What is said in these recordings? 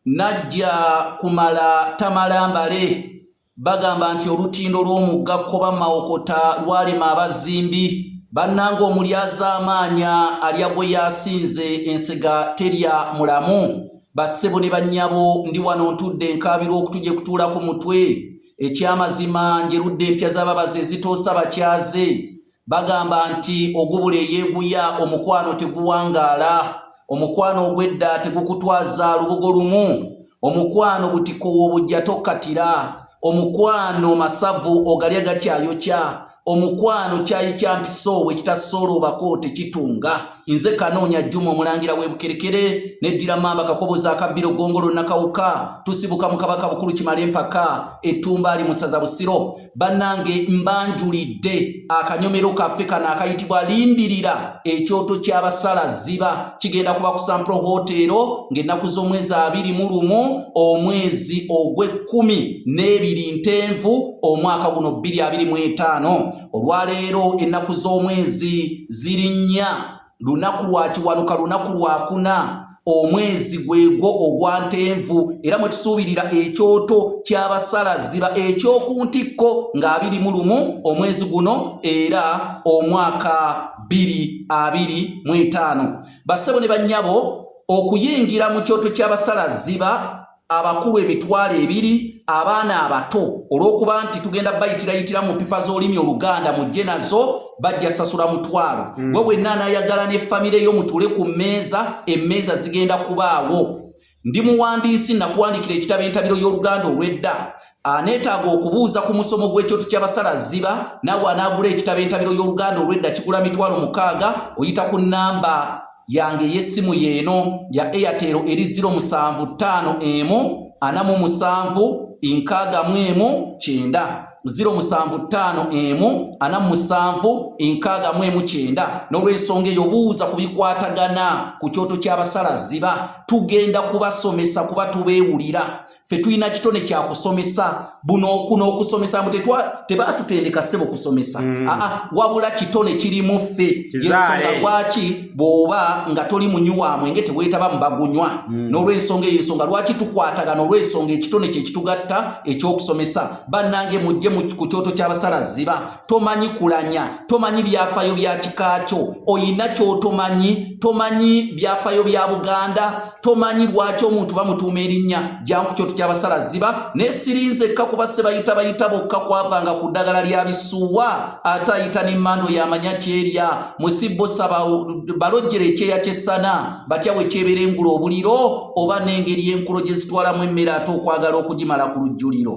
najja kumala tamala mbale bagamba nti olutindo lw'omugga kkoba mawokota lwalema abazimbi bannanga omulyazaamaanya alya gwe yasinze ensega terya mulamu bassebo ne bannyabo ndi wano ntudde enkaabirwa okutuje kutuula ku mutwe ekyamazima njerudde empya z'ababazi ezitoosa bakyaze Bagamba nti ogubula eyeeguya omukwano teguwangaala, omukwano ogw'edda tegukutwaza lubugo lumu, omukwano butiko w'obujja tokkatira, omukwano masavu ogalya gakyayokya, omukwano kyayi kya mpiso bwe kitasooloobako tekitunga. Nze Kanoonya Juma omulangira w'e Bukerekere n'eddira Mmamba Kakoboza akabbiro Ggongolo Nakawuka tusibuka mu Kabaka Bukulu Kimalempaka e Ttumbaali mu ssaza Busiro. bannange mbanjulidde akanyomero kaffe kano akayitibwa lindirira ekyoto ky'abasala ziba kigenda kuba ku sampro hoteero ng'ennaku z'omwezi abiri mu lumu omwezi ogw'ekkumi n'ebiri ntenvu omwaka guno bbiri abiri mu etaano olwaleero ennaku z'omwezi ziri nnya lunaku lwa kiwanuka lunaku lwakuna omwezi gwegwo ogwa ntenvu era mwe tusuubirira ekyoto ky'abasala ziba eky'oku ntikko ng'abiri mu lumu omwezi guno era omwaka bbiri abiri mu etaano bassebo ne bannyabo okuyingira mu kyoto ky'abasala ziba abakulu emitwalo ebiri abaana abato olw'okuba nti tugenda bayitirayitira mu pipa z'olimi oluganda mujje nazo bajja sasula mutwalo mm. we wenna anayagala ne famire yo mutule ku mmeeza emmeeza zigenda kubaawo ndi muwandiisi nakuwandikira ekitabo entabiro y'oluganda olw'edda aneetaaga okubuuza ku musomo gw'ekyoto ky'abasala ziba naawe anaagula ekitabo entabiro y'oluganda olw'edda kigula mitwalo mukaaga oyita ku nnamba yange ey'essimu y'eno ya airtel eri 0751 anamu musanvu nkaaga mu emu kyenda 0751 ana musanvu enkaaga mu emu kyenda n'olwensonga eyo buuza ku bikwatagana ku kyoto ky'abasala ziba tugenda kubasomesa kuba tubeewulira fe tulina kitone kya kusomesa buno okuno okusomesa mbu tebatutendeka sebo kusomesa mm. aa ah, ah, wabula kitone kiri mu ffe yensonga lwaki bwoba nga toli munyuwa mwenge tewetaba mubagunywa mm. n'olwensonga eyo ensonga lwaki tukwatagana olwensonga ekitone kyekitugatta ekyokusomesa bannange mujje ku kyoto ky'abasala ziba tomanyi kulanya tomanyi byafayo bya kika kyo oyina kyotomanyi tomanyi byafayo bya buganda tomanyi lwaki omuntu bamutuuma erinnya janku kyo tutya abasala ziba naye sirinze ekka kuba se bayita bayita bokka kwavanga ku ddagala lya bisuuwa ate ayita n'emmando yamanya kyerya musibbo saba balojjera ekyeya kyessana batya bwe kyebeera engula obuliro oba n'engeri enkulo gye zitwalamu emmere ate okwagala okugimala ku lujjuliro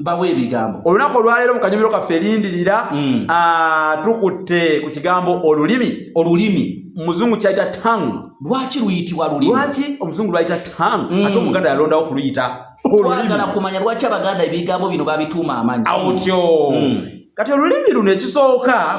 bawa ebigambo olunaku olwaleero mu kanyumiro kaffe lindirira mm. ah, tukutte ku kigambo olulimi olulimi muzungu kyayita tongue lwaki luyitibwa lulimi lwaki omuzungu lwayita tongue mm. ate omuganda yalondawo kuluyita twagala kumanya lwaki abaganda ebigambo bino babituuma amanyi awo tyo mm. kati olulimi luno ekisooka